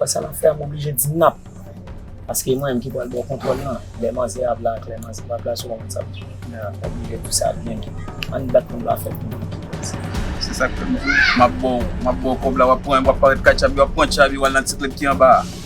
Wè sa nap fè a m oblije di nap paske e mwen menm ki pral baw kontwòl lan lè manzè a vle ak lè manzè pa vle a se ou menm sa pou fè nap oblije di sa byen byen ann bat pou n pa fè pou moun ki pral sa. Se sak fè m di w map baw map baw kòb la wap pran wap pare katcha bi wap pran tcha bi wal nan ti klèb ki anba a.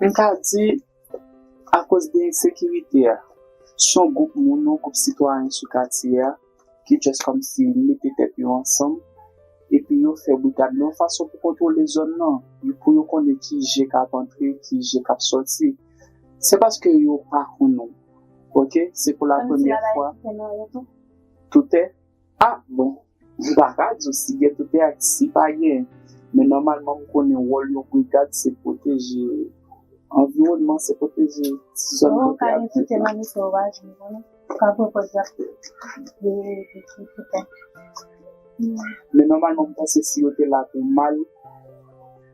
M ka di, akoz de ensekirite a, s yon gwoup moun, yon gwoup sitwayen sou katye a ki just kòmsi mete tèt yo ansanm epi yo fè brigad nan yon fason pou kontwole zòn nan, pou yo konnen ki je k ap antre, ki je k ap sòti. Se paske yo pa konnen, ok, se pou la premyè fwa. Tout tè? Ah bon m paka diw si gen toutè ak si pa gen men nòmalman m konnen wòl yon brigad se pwoteje anviwònman se pwoteje ti zòn kote yap viv la. Mwen gen toutè nan mitan wi mwen ka pran pòz yap veye pitit toutè. Men nòmalman m panse si yo te la pou mal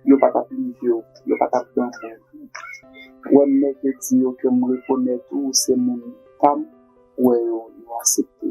yo pa tap livew yo pa tap danfew wè m mèke di yo ke m rekonèt ou se moun pam wè yo yo asepte.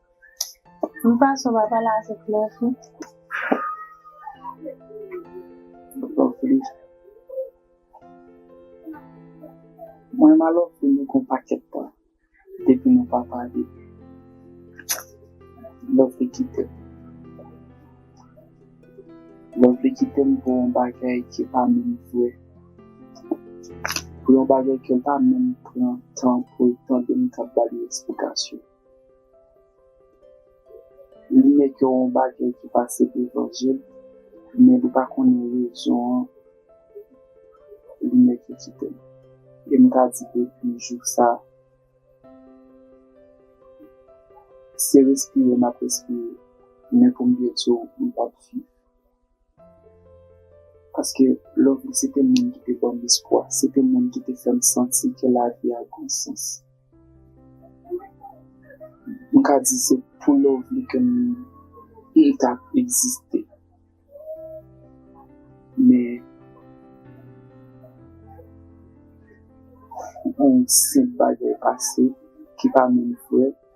M pa sou pa pale avèk lè fi. Mwen ma love fi nou kon pakèt tan depi nou pa pale lè fi kite m lè fi kite m pou yon bagay ki pa menm vre pou yon bagay ke l pa menm pran tan pou l tande m kap bal yon esplikasyon. Li wè gen yon bagay ki pase devan je l, men li pa konnen rezon an, li wè ki kite l. E m ka di depi jou sa, se respire m ap respire, men pou m byen di w, m p ap viv. Paske love li se te moun ki te banm espwa, se te moun ki te fèm santi ke lavi a gon sans. M ka di se pou love li ke m t ap egziste. Men yon senp bagay pase ki pa menm vrè.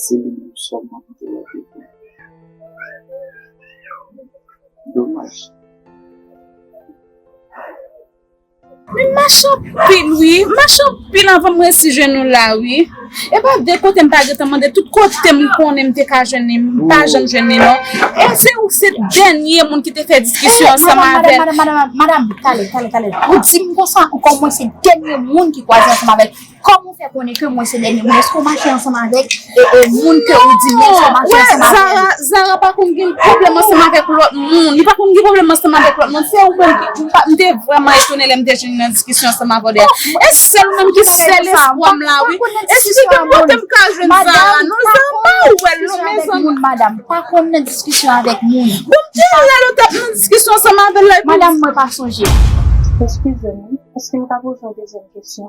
Se li menm sèlman ki te leve pou nou. Domaj. Men m mache anpil wi, m mache anpil anvan m resi jwenn nou la wi. E pa de kote m pa gentan mande, tout kote m konnen m te ka jwenn li, m pa janm jwenn li non. E se ou ki se dènye moun ki te fè diskisyon ansanm avè l. Madam, madam, madam, madam, tale, tale, tale. Ou di m konsa ankò mwen se dènye moun ki kwaze ansanm avè l. Kòman ou fè konnen ke mwen se dènye moun? Eske ou mache ansanm avèk moun ke ou di menm sa ou mache ansanm avè l? Wè, Zara pa konn gen pwoblèm ansanm avèk lòt moun. Li pa konn gen pwoblèm ansanm avèk lòt moun. Se ou menm ki, m te vrèman etone lè m te jwenn nan diskisyon ansanm avè w de a. E se sèl ou menm ki sèl espwa m la wi. Esplike m kote m ka jwenn Zara non. Zara m pa wè l non mezanmi. Madam, m pa konn nan diskisyon avèk moun. Bon, ki lè l ou t ap nan diskisyon ansanm avè l la epi ou di. Madam, mwen pa sonje. Eskize m wi, eske m ka poze yon dezyèm kesyon?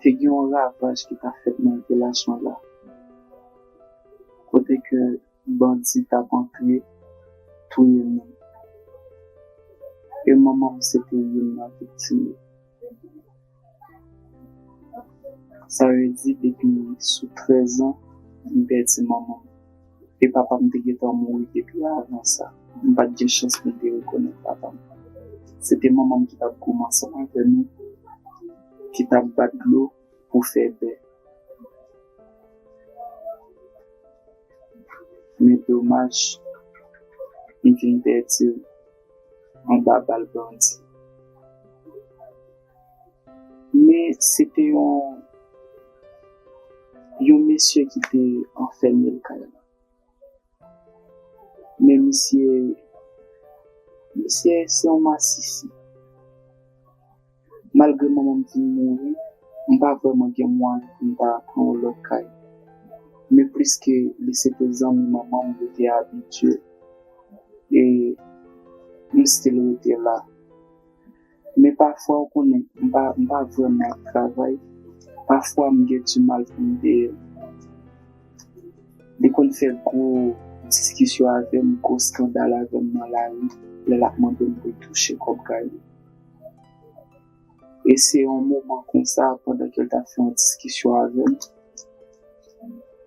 Te gen yon ravaj ki ta fèt nan relasyon la kote ke bandi t ap antre touye moun e manman m se te youn nan viktim yo. Sa vle di depi sou 13 an m pèdi manman m. e papa m te gentan mouri depi avan sa. M pa t gen chans pou m te rekonèt papa m. Se te manman m ki t ap goumen ansanm avè nou, ki t ap bat dlo pou fè bè. Men domaj, m vin pèdi l anba bal bandi. Men se te yon yon mesye ki te anfème l kay la. Men misye misye se yon masisi. Malgre manman m te mouri, m pa vrèman gen mwayen pou m ta pran yon lòt kay. Men pliske li se te zanmi manman m, yo te abitye e m still rete la. Men pafwa ou konnen m pa m pa vrèman ap travay, pafwa m gen di mal pou m deyè l. Li konn fè gwo diskisyon avè m, gwo skandal avè m nan lari lè l ap mande m pou l touche kòb kay li. E se yon moman konsa pandan ke l t ap fè yon diskisyon avè m,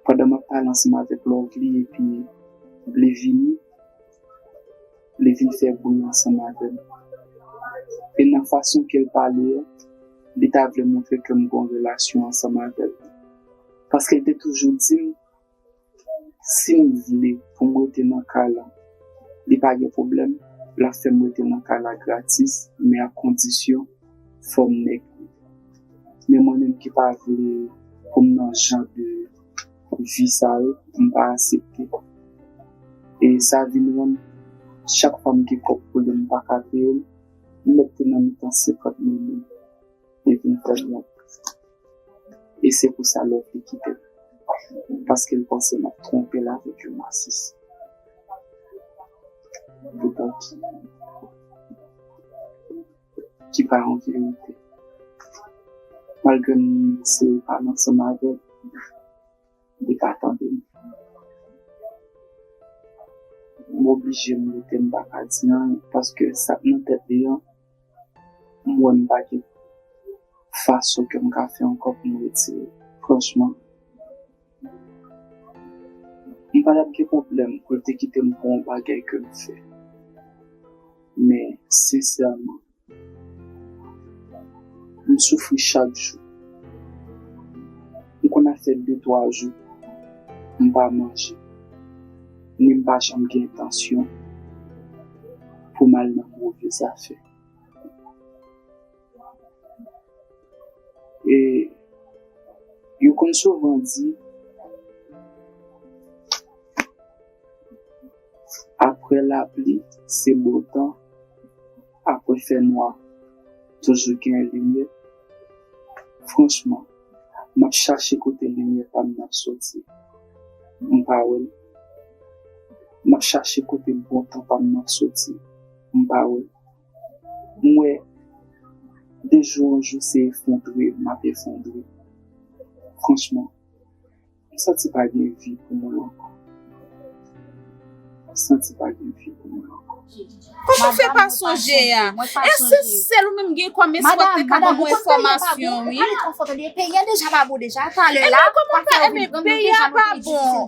pandan m ap pale ansanm avèk Lovely epi li vini. li vin fè bri ansanm avè m. E nan fason ke l pale an, li ta vle montre ke m gon relasyon ansanm avè l. Paske l te toujou di m, si m vle pou m rete nan kay la, li pa gen pwoblèm, l ap fè m rete nan kay la gratis, men ak kondisyon, fò m nèg li. Men mwen menm ki pa vle pou m nan jan de. vi sa yo, m pa asepte. E sa vin rann chak fwa m gen pwòp pwoblèm m pa ka kreye l, m mèt te nan mitan 50 mil moun e vin pran nòt. E se pou sa Love li kite m. Paske l panse m ap twonpe l avèk yon nasis. Poutan ki? ki pa yon verite. Malgre m se pale ansanm avè l, li pa tande m. M oblije m rete m pa ka di anyen paske sa k nan tèt li an m wè m pa gen fason ke m ka fè ankò pou m retire l. Franchman. M pa tap gen pwoblèm pou l te kite m pou yon bagay ke m fè. Men, sensèman, m soufri chak jou. M konn ap fè de twa jou m pa manje, ni m pa janm gen entansyon pou m al nan move zafè. E yo konn souvan di apre lapli se bon tan, apre fè nwa toujou gen limyè. Franchman, m ap chache kote limyè pa m nan soti, m pa wè l. M ap chache kote bon tan pa m nan soti, m pa wè l. Mwen de jou an jou se efondre m ap efondre. Franchman, m santi pa gen vi pou mwen ankò. M santi pa gen vi pou mwen ankò. Kòman w fè pa sonje a? E se sèl ou menm ki gen kòm espò k te ka ban mwen enfòmasyon wi? E men kòman w pa, e men peyi a pa bon.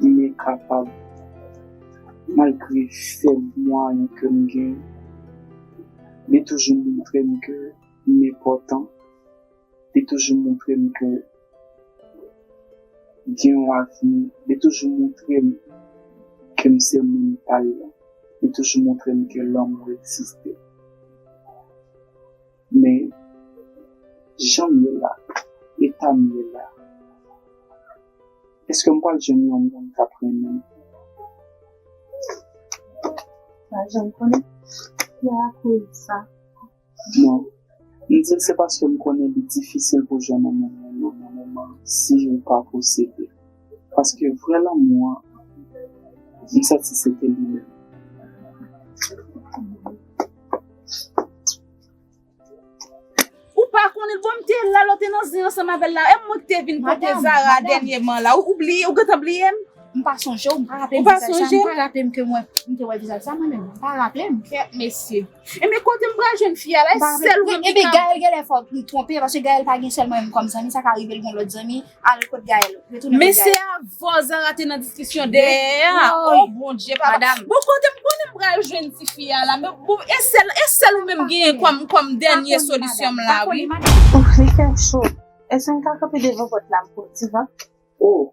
Mwen kapab malgre fèb mwayen ke m gen, li toujou montre m ke m enpòtan, li toujou montre m ke m gen yon avni, li toujou montre m ke m se moun pa l lan, li toujou montre m ke lanmou egziste. Men, jan m ye la, eta m ye la, èske m pral jwenn yon moun k ap renmen m? Ou pa janm konnen? Se akoz sa. Non. M di l se paske m konnen li difisil pou jwenn yon moun renmen w nan moman si ou pa posede. Paske vrè lanmou an, m santi se te li menm. Ou pa konnen l, bon m te la lè w te nan zen ansanm avè l la. E mwen ki te vin pote Zara dènyeman la. Ou bliye, ou gentan bliye m? M pa sonje w, m pa raple m vizaj sa. M pa raple m ke mwen m te wè vizaj sa mwen menm. M pa raple m. Kèt mesye. Enben kote m pral jwenn fi a la? E sèl ou menm ki ka. Enben Gaëlle genlè fò li twonpe paske Gaëlle pa gen sèlman m kòm zanmi, sa ka rive l gen lòt zanmi. Al kot Gaël. Retounen Men kot se Gaël. a vò Zara te nan diskisyon dèyè a. Woy. Oh Bondye papa. Madam. Bon kote m konnen m pral jwenn ti fi a la men bon e sèl e sèl ou menm genyen kòm kòm dènye solisyon m la Pa wi. kole madam. Ouff li fè cho. Eske m ka kanpe devan pòt la m pran ti van? Oh.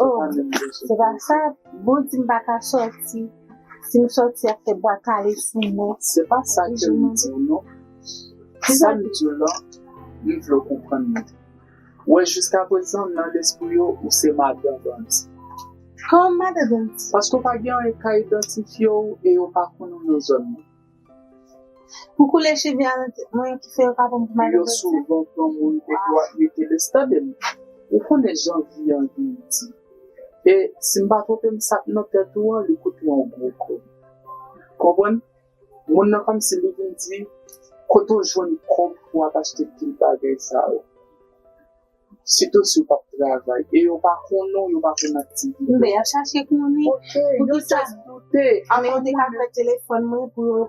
Oh, se pa sa, bon di m pa ka sòti. Si m sòti y ap fè bwa kale sou mwen. Se pa sa ke m di w non. Sa m di w la, m vle w konprann mwen. Ou wè jiskaprezan nan lespri yo ou se madan bandi. Kòman madan bandi? Paske w pa gen anyen ka idantifye w e yo pa konnen w nan zòn nan. Pou koule cheve a nan tèt mwen ki fè yo pa bon pou mare voltè. Yo souvan pran moun e yo ap mete lès. Tande m, ou konnen jan vi an di li di. E si m pa twonpe m sa k nan tèt ou an li koute yon gwo kòb. Konprann? Moun nan kòmsi li vin di kote w jwenn kòb pou w ap achte pil bagay sa yo. Sitou si w pap travay. E yo pa konnen w, yo pa konn aktivite w. Ben, y ap chache konnen. Ok, yo jis doute. Alò mwen. Yo te ka pran telefòn mwen pou yo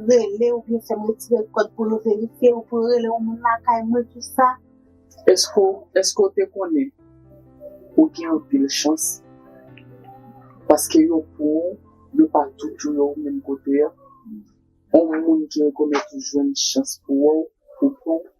rele ou byen fè m retire kòd pou yo verifye ou, pou yo rele yon moun lakay mwen, tout sa. Èske w te konnen ou gen anpil chans paske yo pran w, yo pa tou touye w menm kote a? Yon moun ki rekonèt ou jwenn chans pou wè w, pou pran w?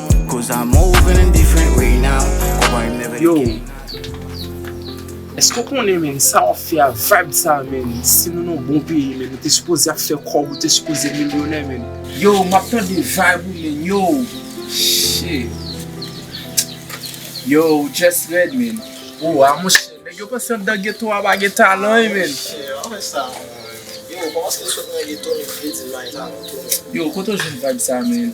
Yo Eske ou konnen menn sa wap fè a vibe sa menn si nou nan bon peyi menn ou te sipoze ap fè kòb ou te sipoze milyonè menn. Yo map tande vibe ou menn yo Shit Yo ou just rèd menn. Ou a monchè nèg yo panse andan geto a pa gen talan wi menn. Yo kote ou jwenn vibe sa menn.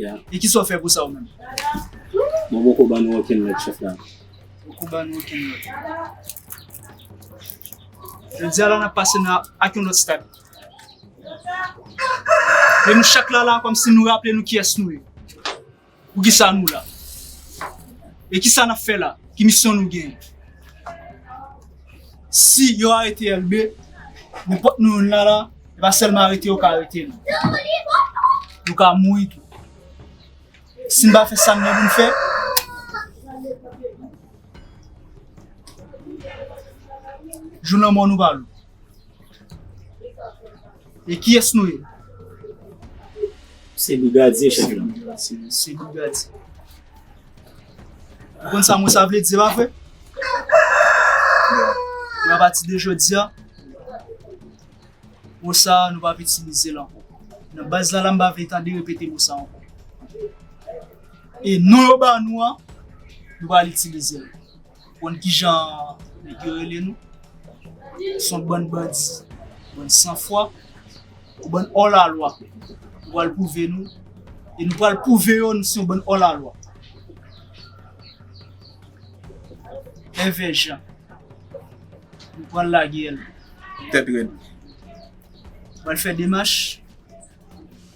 E kisa ou fè pou sa ou menm? Mwen poko ban nou okenn lòd chèf la. Poko ban nou okenn lòd. Jodi a la nan pase nan ak yon lòt stad. E nou chak la la kòm si nou raple nou kiyès nou ye. Pou kisa nou la. E kisa nap fè la? Ki misyon nou gen? Si yo arete Elbe, nenpòt nou youn la la, e pa sèlman arete yo ka arete nou. Nou ka mouri tou. Si n pa fè sa n gen pou n fè, jou lanmò nou va lou. E kiyès nou ye? Se brigadye chèf lan. Se brigadye. Ou konn sa mo sa vle di, se pa vre? Mwen a pati de jodi a, mo sa nou pa itilize l ankò. Nan baz la la m pa vle tande repete mo sa ankò. E non yo ba nou an, nou pa al itilize l. Ou konn kijan nèg yo rele nou? Son bann bandi, bann san fwa, yon bann ò la lwa. Nou pral pwouve nou, e nou pral pwouve yo nou se yon bann ò la lwa. Èvè Jan, nou pral lage l. Tèt rèd. Pral fè demach.